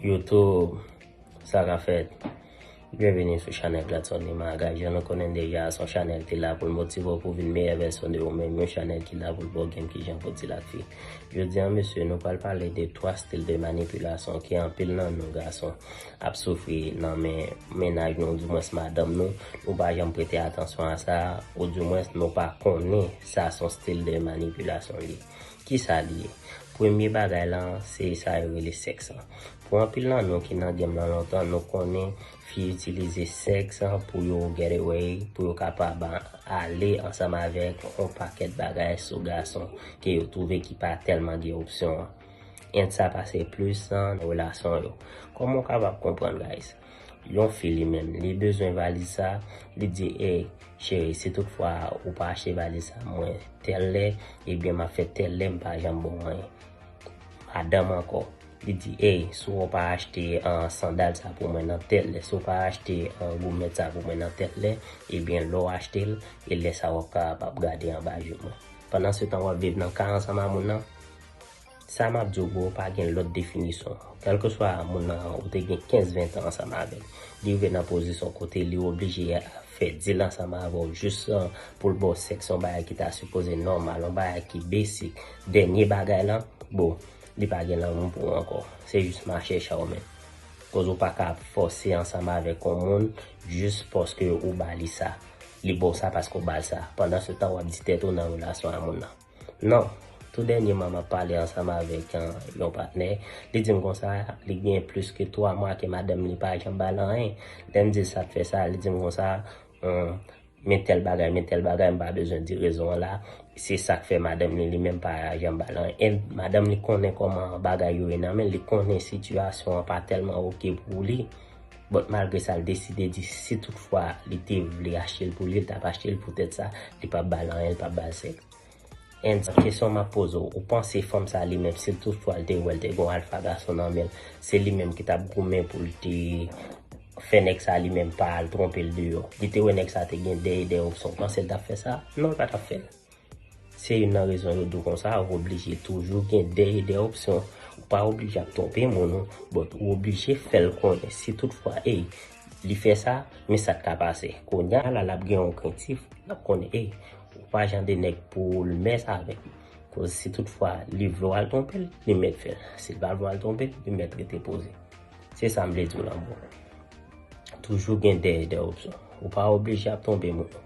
Youtube Sa ka fèt Byenvini sou chanèl Gladson Nimaga Jan nou konnen deja a son chanèl ki la pou l motive w pou vin meyè vèsyon de ou menm yon chanèl ki la pou l ba w game kijan pou w dil ak fi Jodi an mesye nou pral pale de 3 stil de manipilasyon ke anpil nan nou gason ap soufri nan men mennaj nou di mwens madanm nou nou pa janm prete atansyon a sa ou di mwens nou pa konnen sa son stil de manipilasyon li. Kisa li ye? Premye bagay la an, se sa yo rele sèks an. Pou anpil nan nou ki nan game lan lontan, nou konnen fi itilize sèks pou yo get away, pou yo kapab ale ansanm avèk yon pakèt bagay sou gason ke yo twouve ki pa tèlman gen opsyon an. And sa pase plis nan relasyon yo. Kòman ou kapab konprann guys? Yon fi li menm, li bezwen valiz sa, li di ey, cheri si tout fwa ou pa achte valiz sa mwen tèl lè, ebyen map fè tèl lè mpa janm ba w anyen. Madanm ankò, li di ey, si w pa achte sandal sa pou mwen nan tèl lè, si w pa achte gomèt sa pou mwen nan tèl lè, ebyen lè w achte l, e lè sa wap kapab gade anba je mwen. Pandan se tan wap viv nan ka ansanm a moun nan. Sa map diw bro pa gen lòt definisyon kèlkeswa moun nan ou te gen 15 20 tan ansanm avèl li rive nan pozisyon kote li oblije fè dil ansanm avèw jis poul baw sèks yon bagay ki ta sipoze nòmal yon bagay ki basic dènye bagay lan bro li pa gen lanmou pou ou ankò se jis mache cha ou menm koz ou paka ap fòse ansanm avèk yon moun jis paske ou ba li sa li baw sa paske ou bal sa pandan se tan wap di tèt ou nan relasyon a moun nan. Non. Tou dènyeman m ap pale ansanm avèk yon patnè, li di m konsa, li gen plis ke 3 mwa ke madanm li pa janm ba l anyen. Lè m di l sa k fè sa, li di m konsa, men tèl bagay, men tèl bagay, m pa bezwen di rezon an la, se sa k fè madanm li, li menm pa janm ba l anyen. E madanm li konnen kòman bagay yo ye nan men l, li konnen sitiyasyon an pa tèlman oke pou li. But malgre sa l deside di si tout fwa li te vle achte l pou li l tap achte l pou tèt sa li pap bal anyen li pap bal sèks and kesyon map poze w ou panse fanm sa li menm si tout fwa l te wè l te gon alfa gason nan men l se li menm ki tap goumen pou l te fè nèg sa li menm pa al twonpe l deyò li te wè nèg sa te gen 2 e 2 opsyon ou panse l tap fè sa non l patap fè l. Se youn nan rezon yo di w konsa, ou oblije toujou gen de e de opsyon. Ou pa oblije ap twonpe moun ou, but ou oblije fè l konnen si tout fwa ey, li fè sa, men sa k ka pase. Kounya la l ap gen yon krentif, l ap konnen ey, ou pa jan de nèg pou ou l mès avèk m. Koz si tout fwa li vle w al twonpe l, li mèt fè l. Si l pa vle w al twonpe l, li mèt rete poze. Se sa m vle di w lan bon. Toujou gen de e de opsyon. Ou pa oblije ap twonpe moun ou.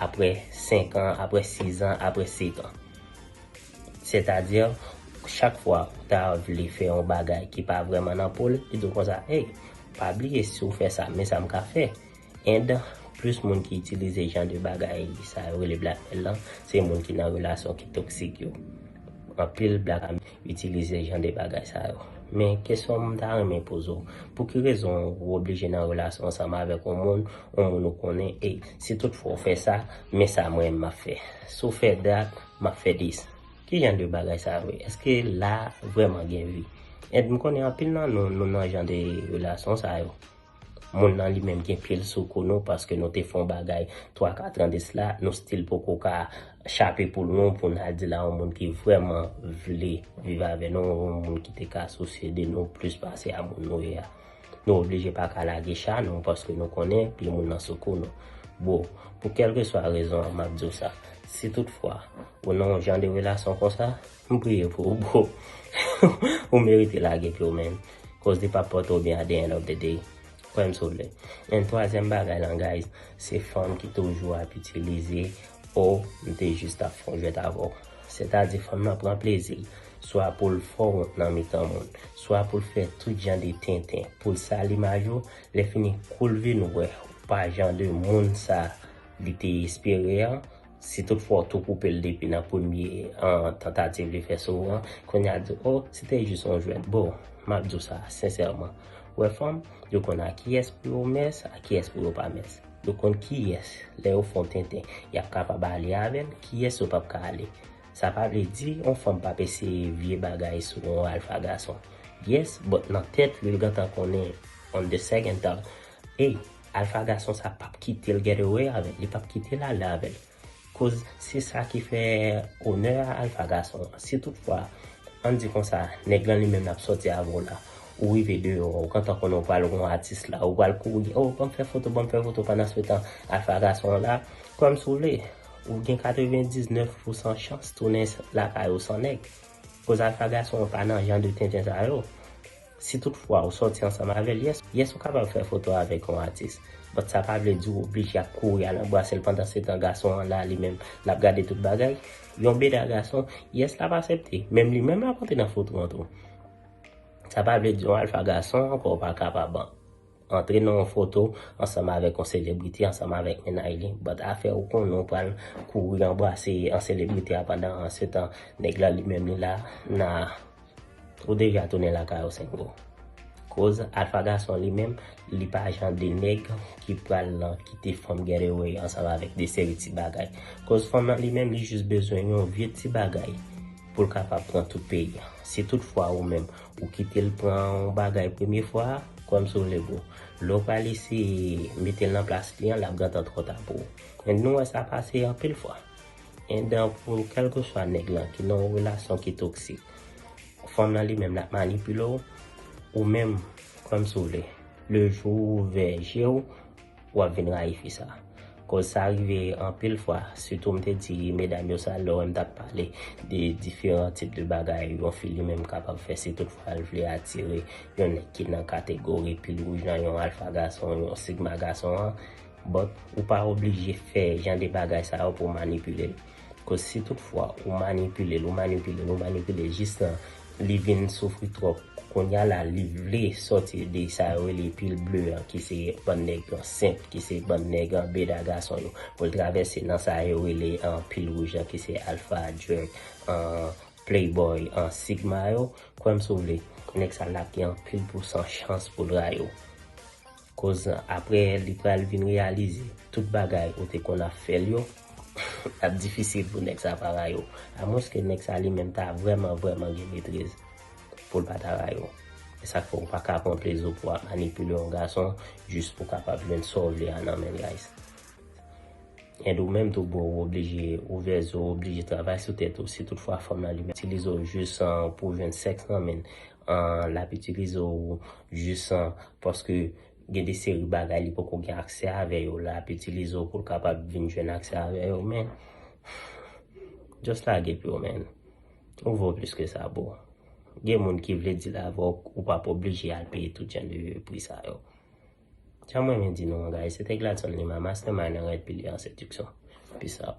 Apre 5 an, apre 6 an, apre 7 an. Sètadi, chak fwa ou ta vle fè yon bagay ki pa vrèman nan po l, li di w konsa, Ey, pa bliye si w fè sa, men sa m ka fè. And, plis moun ki itilize jan de bagay sa yo rele blackmail lan, se moun ki nan relasyon ki toksik yo. Anpil blackmail. Itilize jan de bagay sa yo. Men kesyon m ta renmen poze w, pou ki rezon ou oblije nan relasyon ansanm avèk yon moun, yon moun ou konnen e si tout fwa ou fè sa, men sa mwen menm m ap fè. Si w fè dat, m ap fè dis. Ki jan de bagay sa yo ye? Eske la vrèman gen vi? Et m konnen anpil nan nou, nou nan jan de relasyon sa yo. Moun nan li menm gen pye l sou kou nou paske nou te fè yon bagay 3 4 ans de cela nou still poko ka chape poul nou pou n al di l a yon moun ki vrèman vle viv avè nou yon moun ki te ka sousye de nou plis pase a moun nou ye a nou oblije pa ka lage cha nou paske nou konnen pye moun nan sou kou nou bro pou kelkeswa rezon an map di w sa si tout fwa ou nan yon jan de relasyon konsa M priye pou ou bro. Ou merite lage pye w menn. Koz li pap pote w byen at the end of the day. Kwè m si w vle. And twazyèm bagay lan guys, se fanm ki toujou ap itilize oh m te jis ap fon jwèt avè w. Sètadi fanm lan pran plezi l swa pou l fè w wont nan mitan moun, swa pou l fè tout jan de tenten pou l sal imaj ou, lèfini kou l vin wè w pa jan de moun sa li te espere an, Si tout fwa w tou koupe l depi nan premye tantativ li fè sou ou an, kounye a di oh se te jis yon jwèt. Boo, m ap di w sa sensèman, ou wè fanm, yo konn a kiyès pou yo mès, a kiyès pou yo pa mès. Yo konn kiyès, lè yo fè w tenten, y ap kapab ale avè l, kiyès yo p ap ka ale. Sa pa vle di yon fanm p ap eseye vye bagay sou yon alfa gason. Yes, but nan tèt li, li gentan konnen on the second thought, Ey! Alpha gason sa pap kitel get away avèl li pap kitel ale avèl koz se sa ki fè onè a Alpha gason si tout fwa an di konsa nèg lan li menm lap sòti avè w la ou rive deyò ou gentan konnen ou pral wè yon atis la ou pral kouri oh banm fè foto banm fè foto pandan se tan Alpha gason an la kwèm si w vle ou gen 99 pou san chans tounen lakay ou san nèg koz Alpha gason an pa nan jan de tenten sa yo. Si tout fwa ou sòti ansanm avè l, yes, yes ou kapab fè foto avèk yon atis, but sa pa vle di ou oblije ap kouri al anbrase l pandan se tan gason an la li menm l ap gade tout bagay. Yon beda gason, yes l ap asepte, menm li menm l ap antre nan fout ront ou. Sa pa vle di yon alfa gason ankò ou pa kapab an. Antre nan yon foto ansanm avèk yon selebrite ansanm avèk mennaj li but afè ou konnen ou pral kouri anbrase an selebrite a pandan an se tan nèg la li menm li la nan ou deja tounen lakay ou sengo koz alfa gason li menm li pa jan de nèg ki pral nan kite fanm getaway ansanm avèk de seri ti bagay koz fanm nan li menm li jis bezwen yon vye ti bagay poul kapab pran tout peyi an si tout fwa ou menm Ou kitel pran yon bagay premye fwa, kwèm si w le bro. Lè w pral eseye metel nan plas li an, lap gentan twò ta pou ou. Men nou wè sa pase anpil fwa. Endan pou kèlkeswa nèg lan ki nan yon relasyon ki toksik, fanm lan li menm lap manipile w, ou menm kwèm si w vle, le jou ou ouvè je w, Wap vin rayi fi sa. Koz sa rive anpil fwa sitou m te di medam yo sa lè w wè m tap pale de diferan tip de bagay yon fi li menm kapab fè si tout fwa l vle atire yon nèg ki nan kategori pil wouj lan yon alfa gason yon sigma gason an but ou pa oblije fè jan de bagay sa yo pou w manipile l. Cause si tout fwa ou manipile l ou manipile l ou manipile l jis nan li vin soufri twòp kounya la li vle sòti de sa yo rele pil ble an ki se bann nèg an senp ki se bann nèg an beda gason yo pou l travèse nan sa yo rele an pil wouj an ki se alfa djèk an playboy an sigma yo kwè m si w vle nèg sa l ap gen anpil pousan chans pou l rayi w. Koz nan aprè li pral vin reyalize tout bagay ou te konn ap fèl yo ap difisil pou nèg sa pa rayi w a mwens ke nèg sa li menm ta vrèman vrèman gen metriz pou l pa ta rayi w e sak fè w pa ka pran plezi w pou ap manipile yon gason jis pou w kapab jwenn sa w vle a nan men l guys and ou menm tou bro ou oblije ouvè zo w oblije travay sou tèt ou si tout fwa fanm lan li itilize w jis pou w jwenn sèks nan men l An lap itilize w jis an paske gen de seri bagay li poko gen aksè avè yo lap itilize w pou l kapab vin jwenn aksè avè yo men just lage pyo man ou vo plis ke sa boo gen moun ki vle dil avè w ou pap oblije al peye tout jan de pri sa yo sa m renmen di nou an guys se te Gladson Lima mastermind an rèd pile an sediksyon peace out.